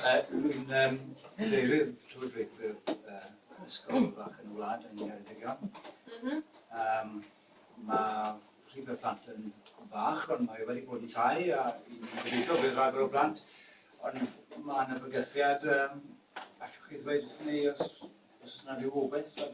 Rwy'n um, deirydd llywodraethu'r uh, ysgol fach yn y wlad yn Ngheredigion. Mm -hmm. um, mae rhif y plant yn fach, ond mae wedi bod yn llai, a i'n gobeithio bydd rhagor o blant. Ond mae yna bygythiad, um, allwch chi ddweud wrth ni os, os yna rhyw obeth o'r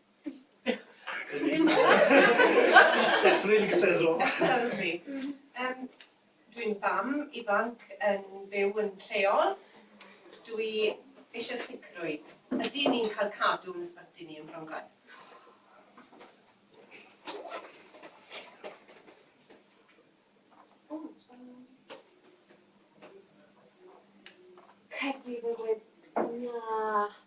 Definitely could say so. Yym, dwi'n fam ifanc yn byw yn lleol. Dw i eisiau sicrwydd. Ydyn ni'n cael cadw yn ysbyty ni yn Bronglais? Credu fod... Na.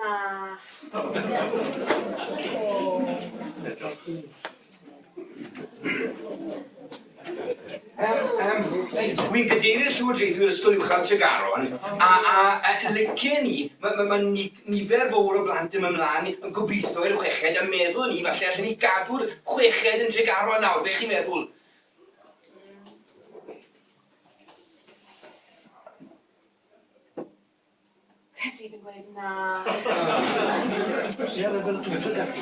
Na. Wi'n cadeirydd Llywodraethwyr Ysgol Uwchradd Tregaron, a, a, a lycen ni, mae ma, ma nifer fawr o blant yn mynd mlaen yn gobeithio i'r chweched, a meddwl ni, falle allen ni gadw'r chweched yn Tregaron nawr, beth chi'n meddwl? Hefyd yn gweud na! Lle oedd y Wil Twtio Gadw?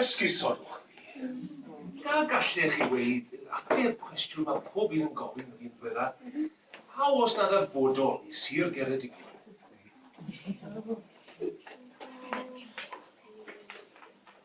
Esgusodwch mi. Ga gallech chi weud yn ateb cwestiwn mae pob un yn gofyn yr un dweda, pa oes na ddarfodol i Sir Geredigion?